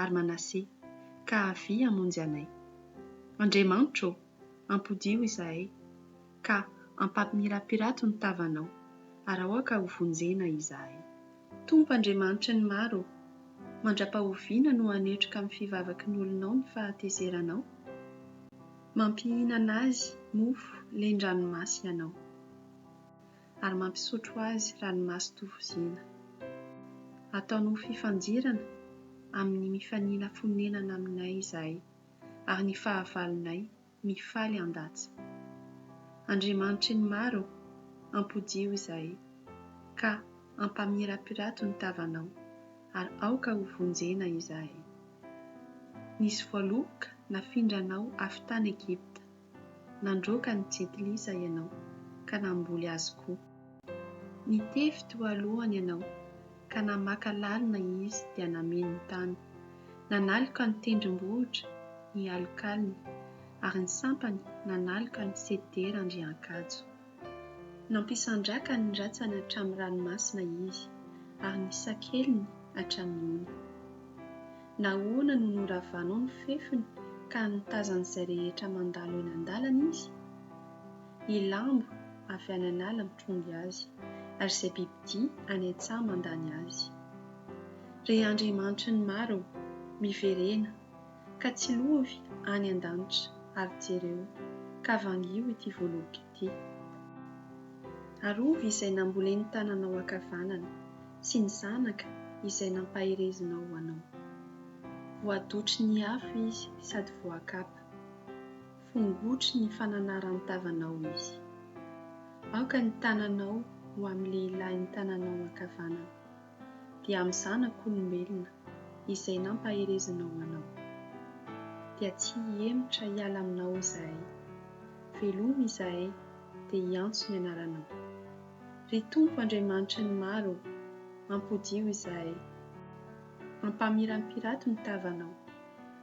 ary Manase, ka avia hamonjy anay. Andriamanitro ô, ampodiho izahay, ka ampampimirapiratro ny tavanao, ary aoka hovonjena izahay. Tompo Andriamanitry ny maro ô, mandra-pahoviana no hanetroka amin'ny fivavaky ny olonao ny fahatezeranao? Mampihinana azy mofo len-dranomasy ianao. ary mampisotro azy ranomaso tovozina. Ataony ho fifandirana amin'ny mifanila fonenana aminay izahay, ary ny fahavalonay mifaly handatsa. Andriamanitry ny maro ô, ampodio izahay, ka ampamirapirato ny tavanao, ary aoka ho vonjena izahay. Nisy voaloboka nafindranao avy tany Egypta. Nandroaka an'i Jet Li izay ianao, ka namboly azy koa. Nitevy teo alohany ianao, ka namaka lalina izy dia nameno ny tany. Nanaloka ny tendrombohitra hialokaliny, ary ny sampany nanaloka ny sedera andriankajo. Nampisandraka ny ratsany hatramin'ny ranomasina Izy, ary ny sakeliny hatramin'ny ony. Nahoana no noravanao ny fefiny ka nitazan'izay rehetra mandalo eny an-dalana Izy? Ny lambo avy any an'ala mitrongy Azy, ary izay bibidia any an-tsaha mandany Azy. Ry andriamanitry ny maro ô, miverena! ka tsilovy any an-danitra ary jereo ka vangio ity voaloboka ity. Arovy izay nambolen'ny tananao ankavanana sy ny zanaka izay nampaherezinao ho anao. Voadotry ny afo izy sady voakapa, fongotry ny fananaran-tavanao izy. Aoka ny tananao ho amin'ny lehilahin'ny tananao ankavanana. dia amin'ny zanak'olombelona izay nampaherezanao anao. Dia tsy hihemotra hiala aminao izahay. Velomy izahay dia hiantso ny anaranao. Ry Tompo Andriamanitry ny maro ô, ampodio izahay. Ampamirampirato ny tavanao.